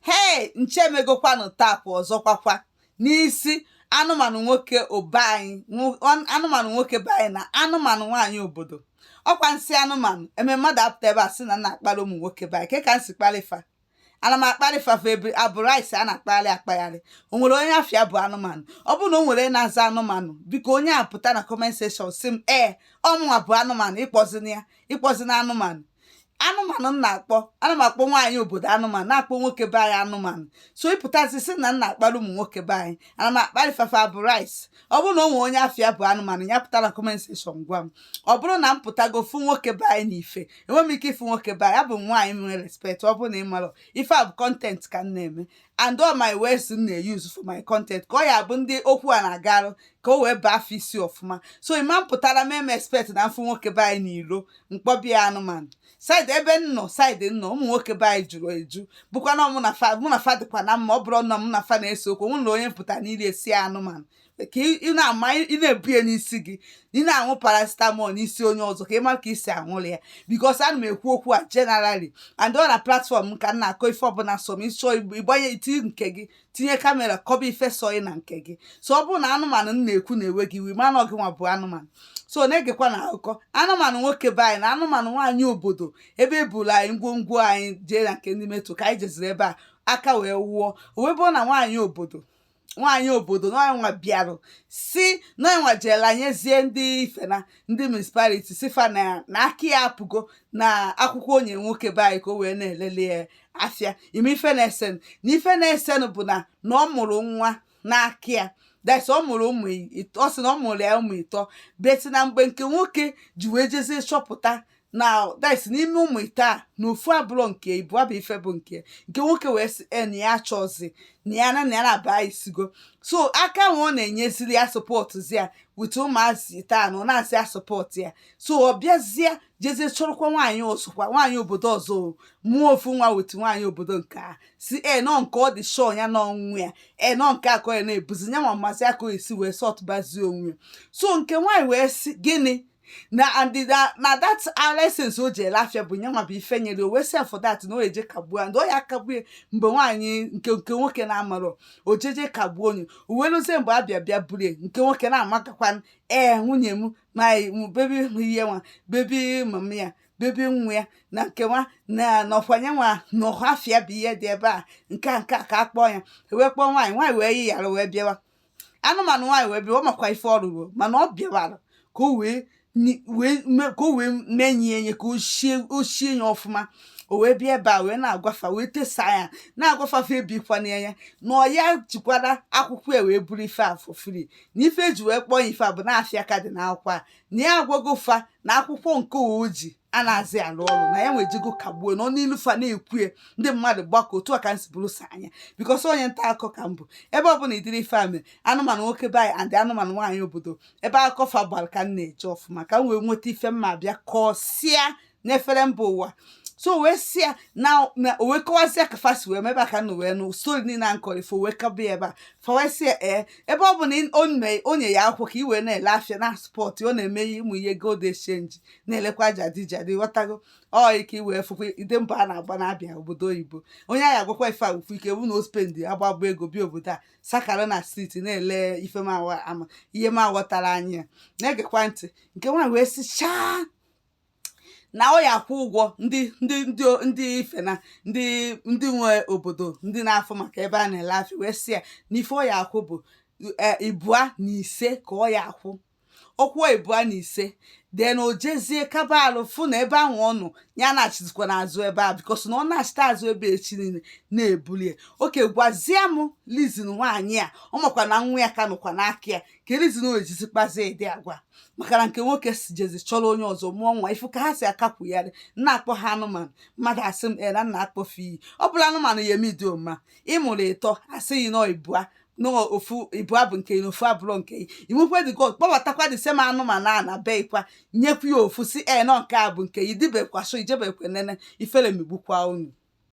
hei nche megokwanụ tapụ ọzọkwakwa n'isi anụmanụ nwoke be anyị nwo- an- anụmanụ nwoke be anyị na anụmanụ nwaanyị obodo ọkwa m sị anụmanụ eme mmadụ apụta ebe a sị na m na-akparị ụmụ nwoke be anyị ke ka m si kparị fa ana m akparị fa fa ebe abụ rice a na-akpagharị akpagharị o nwere onye afa ya bụ anụmanụ ọ bụrụ na o nwere onye na-aza anụmanụ biko onye a pụta na comment section sị m ee ọmụnwa bụ anụmanụ ịkpọzina ya ịkpọzina anụmanụ anụmanụ m na-akpọ ana m akpọ nwaanyị obodo anụmanụ na-akpọ nwoke be anyị anụmanụ so ị pụtazi sị na m na-akparị ụmụ nwoke be anyị ana m akparị fa fa bụ rice ọ bụrụ na o nwee onye afa ya bụ anụmanụ ya pụta na comment section gwa m ọ bụrụ na m pụtago fụ nwoke be anyị n'ife enweghị m ike ịfụ nwoke be anyị abụ m nwaanyị nwere respect ọ bụrụ na ị mara ife a bụ content ka m na-eme and all my words m na-euse for my content ka ọ ya bụ ndị okwu a na-agarụ ka o wee baa fa isi ọfụma so ịma m pụtara m eme expect na m fụ nwoke be anyị n'ilo m kpọba ya anụmanụ side ebe m nọ side m nọ ụmụ nwoke be anyị juru eju bụkwa na mụ na fa mụ na fa dịkwa na mma ọ bụrụ na mụ na fa na-ese okwu mụ na onye m pụta n'ilo esi anụmanụ ka ị na-ama ị na-ebu ya n'isi gị ị na-aṅụ paracetamol n'isi onye ọzọ ka ị mara ka isi aṅụrị ya because ana m ekwu okwu a generally and ọ na platform m ka m na-akọ ife ọbụla sọ m ị chọọ ịgbanye iti nke gị tinye kamera kọba ife sọ ị na nke gị so ọ bụrụ na anụmanụ m na-ekwu na-ewe gị iwe ma na ọ gị nwa bụ anụmanụ so na-egekwa na akụkọ anụmanụ nwoke be anyị na anụmanụ nwaanyị obodo ebe eburu anyị ngwongwo anyị jee na nke ndị metro ka anyị jeziri ebe a aka wee wụọ o wee bụrụ na nwaanyị obodo nwaanyị obodo nụnwa bịarụ sị nya nwa jeela nyezie ndị ife na ndị municipality sị fa na na aka ya apụgo na akwụkwọ onye nwoke be anyị ka o wee na-elele ya afịa ịma ife na-esenụ na ife na-esenụ bụ na na ọ mụrụ nwa n'aka ya that's ọ mụrụ ụmụ ọ sị na ọ mụrụ ya ụmụ ịtọ but na mgbe nke nwoke ji wee jezie chọpụta na that's n'ime ụmụ ịtọ a na ofu abụrọ nke ịbụa bụ ife bụ nke nke nwoke wee sị e na ya achọzi na ya na na ya na-aba isigo so aka nwe ọ na-enyeziri ya sọpọtụzi ya with ụmụazị ịtọ a na ọ na-asị ya sọpọtụ ya so ọ bịazie jezie chọrọkwa nwaanyị ọzọkwa nwaanyị obodo ọzọ ọ mụọ ofu nwa with nwaanyị obodo nke a si e nọ nke ọ dị sure na ọ nwa ya e nọ nke a ka ọ ya na-ebuzi ya ma mmasị ya ka o esi wee sọtụbazie onwe ya so nke nwaanyị wee sị gịnị na andịda na that license o ji ele afịa bụ nya nwa bụ ife nyere o wee sị for that na o eje kagbuo and ọ ya-akagbu ya mgbe nwaanyị nke nke nwoke na-amarọ o jeje kagbuo onye o wee luzie mgbe a bịa bịa burie nke nwoke na-amakakwa ee nwunye m ma baby ihe nwa baby mama ya baby nwa ya na nke nwa na nọkwanye nwa n'ọdụ afịa bụ ihe dị ebe a nke a nke a ka a kpọọ ya wee kpọọ nwaanyị nwaanyị wee yi yara wee bịawa anụmanụ nwaanyị wee bịa ọ makwa ife ọ rụrụ mana ọ bịawara ka o wee ni- wee me- ka o wee mee nye enye ka o shie o shie ya ọfụma o wee bịa ebe a wee na-agwa fa wee tesa ya na-agwa fa fa ebikwana ya na ọ ya jikwara akwụkwọ ya wee buru ife a for free na ife e ji wee kpọọ ya ife a bụ na afịa ka dị n'akwụkwọ a na ya agwago fa na akwụkwọ nke o ji anazị alụ ọrụ na ya nwejego kagbuo na ọnụ ilu fa na-ekwu ya ndị mmadụ gbakọ otu a ka m si bụrụ sọ anya because onye nta akụkọ ka m bụ ebe ọ bụla ịdịrị ife a mere anụmanụ nwoke be anyị and anụmanụ nwaanyị obodo ebe akụkọ fa gbara ka m na-eje ọfụma ka m wee nweta ife m ma-abịa kọsịa n'efere mba ụwa so wee sị ya na na o wee kọwazịa ka fa si wee mebe aka na wee nụ story niile a nkọrọ ifo wee kaba ya ebe a fa wee sị ya ee ebe ọ bụ na ị- o nye- o nye ya akwụkwọ ka i wee na-ele afịa na spot ọ na-eme ya ụmụ ihe gold exchange na-elekwa jadi jadi ghọtago ọ ya ka i wee fụkwa ịdị mbọ a na-agba na-abịa obodo oyibo onye anyị agwakwa ife a ukwu ike wụ na o spend agbagba ego bịa obodo a sakara na street na-ele ife m awa- ama ihe m aghọtara anyị ya na-egekwa ntị nke nwaanyị wee sị chaa na ọ ya akwụ ụgwọ ndị ndị ndị o- ndị ife na ndị ndị nwe obodo ndị na-afụ maka ebe a na-ele afịa wee sị ya na ife ọ ya akwụ bụ e, ịbụa na ise ka ọ ya akwụ ọ kwụọ ịbụa na ise then o jezie kaba alụ fụ na ebe ahụ ọ nọ ya na-achịzikwa n'azụ ebe a because na ọ na-achịta azụ ebe echi niile na-ebuli ya okay gwazie m reason nwaanyị a ọ makwa na nwa ya ka nọkwa n'aka ya kee reason o jizi kpazie ịdị agwa maka na nke nwoke si jezi chọrọ onye ọzọ mụọ nwa ị fụ ka ha si akakwugharị na-akpọ ha anụmanụ mmadụ asị m na m na-akpọ fa iyi ọ bụla anụmanụ ya eme ịdị ọma ị mụrụ ịtọ a sị gị na ibua na ofu ibua bụ nke i na ofu abụrọ nke gị ị mụkwa dị god kpọbatakwa the same anụmanụ a na be i kwa nyekwa ya ofu sị i na nke a bụ nke gị dibekwa so i jebekwa nene ifere megbukwa unu